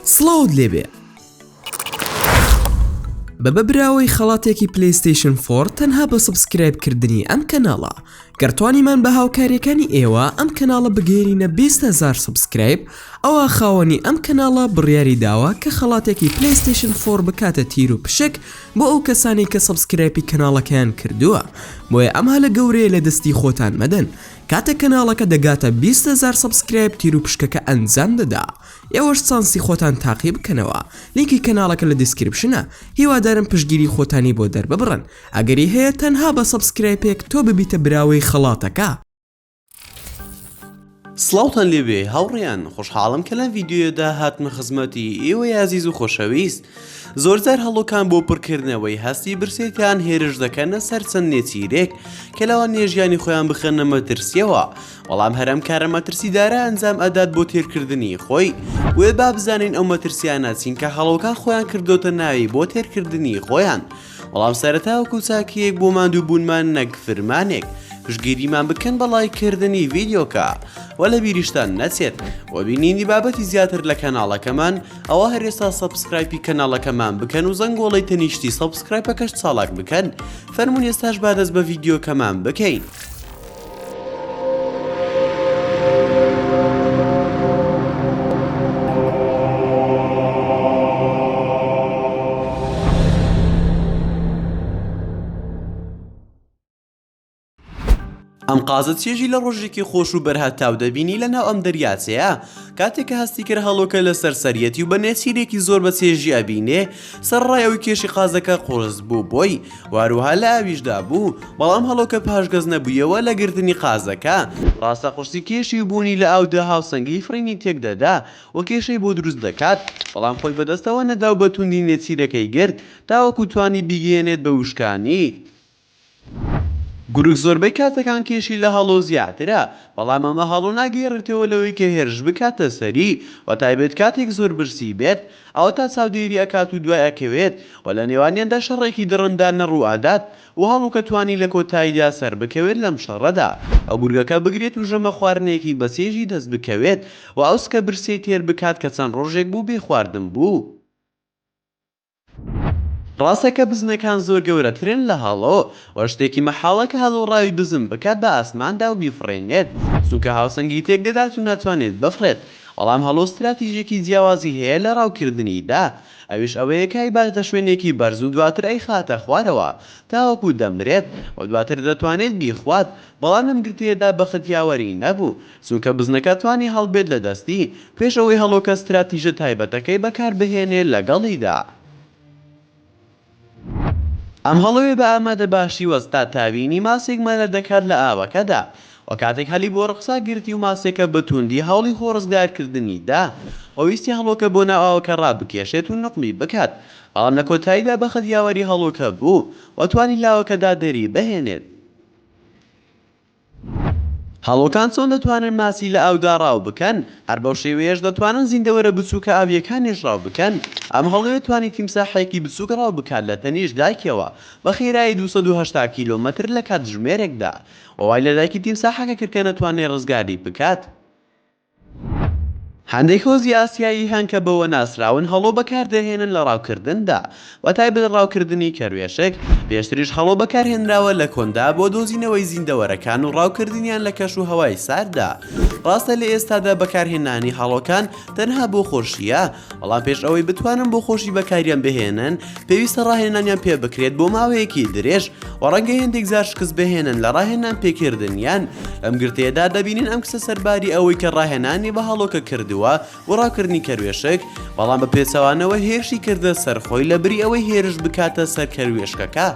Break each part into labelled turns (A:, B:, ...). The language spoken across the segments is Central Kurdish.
A: سڵاوت لێبێ بە بەبراوەی خەڵاتێکی پلیستیشن فۆر تەنها بە سبسکرایب کردنی ئەم کەناڵە گەرتوانیمان بە هاوکاریەکانی ئێوە ئەم کەناڵە بگەێنینە 20هزار سبسکرایب ئەوە خاوەنی ئەم کەناڵە بڕیاری داوە کە خەڵاتێکی پلیستیشن فۆر بکاتە تیر و پشک بۆ ئەو کەسانی کە سبسکرایپی کەناڵەکەیان کردووە بۆیە ئەمها لە گەورەیە لە دەستی خۆتان مەدەن کاتێک کەناڵەکە دەگاتە بیست هەزار سەبسکرایب تیروپشکەکە ئەنجام دەدا ئێوەش چانسی خۆتان تاقی بکەنەوە لینکی کەناڵەکە لە دیسکریپشنە هیوادارم پشتگیری خۆتانی بۆ دەرببڕن ئەگەری هەیە تەنها بە سەبسکرایپێک تۆ ببیتە براوەی خەڵاتەکە.
B: سڵاوتان لێبێ هاوڕێیان خۆشحاڵم کە لەم ڤیدیۆیەدا هاتمە خزمەتی ئێوەی ئازیز و خۆشەویست، زۆرجار هەڵۆکان بۆ پڕکردنەوەی هەستی برسێتیان هێرش دەکەنە سەر چەند نێچیرێک کە لەوان نێژیانی خۆیان بخەنە مەترسیەوە بەڵام هەرم کارە مەترسیدارە ئەنجام ئەدات بۆ تێرکردنی خۆی وێ با بزانین ئەو مەترسیانە چینکە هەڵۆکان خۆیان کردوتە ناوی بۆ تێرکردنی خۆیان بەڵام سەرەتا وەکو چاکەیەک بۆ ماندوو بوونمان نەک فرمانێک پشگیریمان بکەن بە ڵایکردنی ڤیدیۆکە و لە بیریشتان نەچێت و بینینی بابەتی زیاتر لە کەناڵەکەمان ئەوە هەرێستا سەبسکرایپی کەناڵەکەمان بکەن و زەنگۆڵی تەنیشتی سەبسکرایپەکەش چاڵاک بکەن فەرمونێستاش بادەست بە ڤیددیوکەمان بکەین. قازت چێژی لە ڕۆژێکی خۆش و بەرهەتاو دەبینی لە ناو ئەم دەریاچەیە کاتێک کە هەستی کرد هەڵۆکە لە سەرسەریەتی و بە نێچیرێکی زۆر بە چێژی ئەبینێ سەرڕای ئەوی کێشی قازەکە قۆز بوو بۆی واروها لە ئاویشدا بوو بەڵام هەڵۆکە پاشگەز نەبوویەوە لە گرتنی قازەکە. ڕاستە قورسی کێشی و بوونی لە ئاودا هاوسەنگیی فڕینی تێک دەدا و کێشەی بۆ دروست دەکات، بەڵام خۆی بەدەستەوە نەدا و بە توندی نێچیرەکەی گرت تاوەکو توانی بیگەیەنێت بە وشکانی. گورگ زۆربەی کاتەکان کێشی لە هەڵۆ زیاترە، بەڵام ئەمە هەڵۆ ناگێڕێتەوە لەوەی کە هێرش بکاتە سەری، بەتایبەت کاتێک زۆر برسی بێت، ئەوەتا چاودێری ئەکات و دوای ئەکەوێت و لە نێوانیاندا شەڕێکی دڕندانە ڕوو ئەدات و هەڵوکە توانی لە کۆتاییدا سەربکەوێت لەم شەڕەدا و گورگەکە بگرێت و ژەمە خواردنێکی بە چێژی دەست بکەوێت و ئەو سکە برسیەی تێر بکات کە چەند ڕۆژێک بوو بێ خواردن بوو. ڕاستە کە بزنەکان زۆر گەورەترن لە هەڵۆ و شتێکی مەحاڵە کە هەڵۆ ڕاوی بزن بکات بە ئاسماندا و بیفڕێنێت چونکە هاوسەنگی تێک دەدات و ناتوانێت بفڕێت بەڵام هەڵۆ ستراتیژێکی جیاوازی هەیە لە ڕاوکردنیدا، ئەویش ئەوەیە کە ئەیباتە شوێنێکی بەرز و دواتر ئەیخاتە خوارەوە تاوەکو دەمرێت و دواتر دەتوانێت بیخوات، بەڵام لەم گرتەیەدا بەخت یاوەری نەبوو، چونکە بزنەکە توانی هەڵبێت لە دەستی پێش ئەوەی هەڵۆکە ستراتیژە تایبەتەکەی بەکاربهێنێت لەگەڵیدا. ئەم هەڵۆیە بە ئامادە باشی وەستا تاوینی ماسێک مەلەر دەکات لە ئاوەکەدا وە کاتێک هەلی بۆ ڕکسا گرتی و ماسێکە بە توندی هەوڵی خۆ ڕزگار کردنی دا وە ویستی هەڵۆکە بۆ ناو ئاوەکە ڕابکێشێت و نوقمی بکات بەڵام لە کۆتاییدا بەخت یاوەری هەڵۆکە بوو وە توانی لاوەکەدا دەری بهێنێت. هەڵۆکان چۆن دەتوانن ماسی لە ئاودا ڕاو بکەن؟ هەر بەو شێوەیەش دەتوانن زیندەوەرە بچووکە ئاوییەکانیش ڕاو بکەن. ئەم هەڵۆیە توانی تیمساحێکی بچووک ڕاو بکات لە تەنیشت دایکەوە بە خێرایی دوو سەد و هەشتا کیلۆمەتر لە کاتژمێرێکدا و وای لە دایکی تیمساحەکە کرد کە نەتوانێت ڕزگاری بکات. هەندێک هۆزی ئاسیایی هەن کە بەوە ناسراون هەڵۆ بەکاردەهێنن لە ڕاوکردندا، بەتایبەت ڕاوکردنی کەروێشک، پێشتریش هەڵۆ بەکارهێنراوە لە کۆندا بۆ دۆزینەوەی زیندەوەرەکان و ڕاوکردنیان لە کەش و هەوای سارددا، ڕاستە لە ئێستادا بەکارهێنانی هەڵۆکان تەنها بۆ خۆشییە، بەڵام پێش ئەوەی بتوانن بۆ خۆشی بەکاریان بهێنن پێویستە ڕاهێنانیان پێ بکرێت بۆ ماوەیەکی درێژ و ڕەنگە هێندێک زار شکست بهێنن لە ڕاهێنان پێکردنیان ئەم گرتەیەدا دەبینین ئەم کسە سەرباری ئەوەی کە ڕاهێنانی بە هەڵۆکە کردووە بۆ ڕاکردنی کەروێشک بەڵام بە پێچەوانەوە هێرشی کردە سەرخۆی لە بری ئەوەی هێرش بکاتە سەر کەروێشکەکە.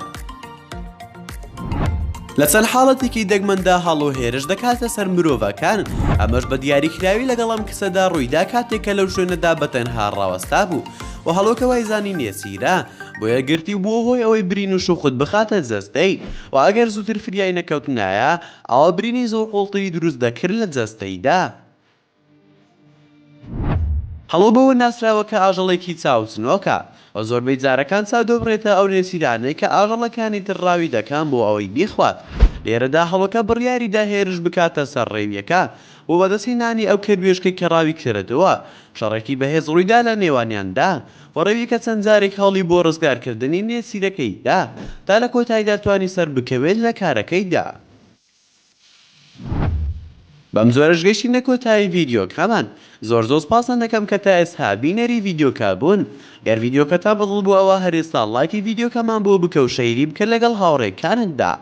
B: لە چەند حاڵەتێکی دەگمەندا هەڵ و هێرش دەکاتە سەر مرۆڤەکان ئەمەش بە دیاریکراوی لەگەڵم کسەدا ڕوویدا کاتێکە لەو شوێنەدا بە تەنها ڕاوەستا بوو و هەڵۆکە وایزانی نێسیرا بۆ یەگرتی بووە هۆی ئەوەی برین و شوخت بخاتە جەستەی و ئەگەر زووتر فریای نەکەوتنایە ئەوە برینی زۆر قوڵتری دروست دەکرد لە جەستەیدا هەڵۆ بەوە ناسراوە کە ئاژەڵێکی چاو چنۆکە و زۆربەی جارەکان چاو دەبڕێتە ئەو نێچیرانەی کە ئاژەڵەکانی تر ڕاوی دەکەن بۆ ئەوەی بیخوات، لێرەدا هەڵۆکە بڕیاری دا هێرش بکاتە سەر ڕێویەکان بۆ بەدەستهێنانی ئەو کەروێشکەی کە ڕاوی کردووە، شەڕێکی بەهێز ڕوویدا لە نێوانیاندا و ڕێویەکە چەند جارێک هەوڵی بۆ ڕزگارکردنی نێچیرەکەی دا تا لە کۆتاییدا توانی سەربکەوێت لە کارەکەیدا. بەم جۆرەش گەیشتینە کۆتایی ڤیدیۆکەمان زۆر زۆر سپاستان دەکەم کە تا ئێستا بینەری ڤیدیۆکە بوون گەر ڤیدیۆکەتان بەدڵ بوو ئەوا هەر ئێستا ڵایکی ڤیدیۆکەمان بۆ بکە و شەیری بکە لەگەڵ هاوڕێکانتدا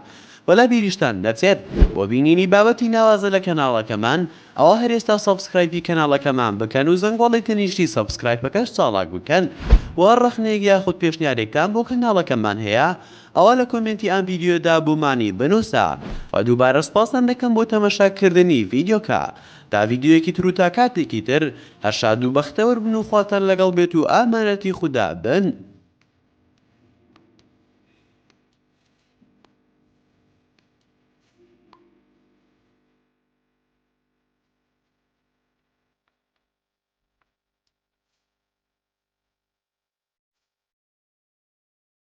B: وە لە بیریشتان نەچێت بۆ بینینی بابەتی ناوازە لە کەناڵەکەمان ئەوا هەر ئێستا سەبسکرایپی کەناڵەکەمان بکەن و زەنگۆڵی تەنیشتی سەبسکرایپەکەش چاڵاک بکەن وە هەر ڕەخنەیەک یاخود پێشنیارێکتان بۆ کەناڵەکەمان هەیە ئەوا لە کۆمێنتی ئەم ڤیدیۆدا بۆمانی بنووسە و دووبارە سوپاستان دەکەم بۆ تەمەشا کردنی ڤیدیۆکە تا ڤیدیۆیەکی تر و تا کاتێکی تر هەر شاد و بەختەوەر بن و خواتان لەگەڵ بێت و ئامانەتی خودا بن.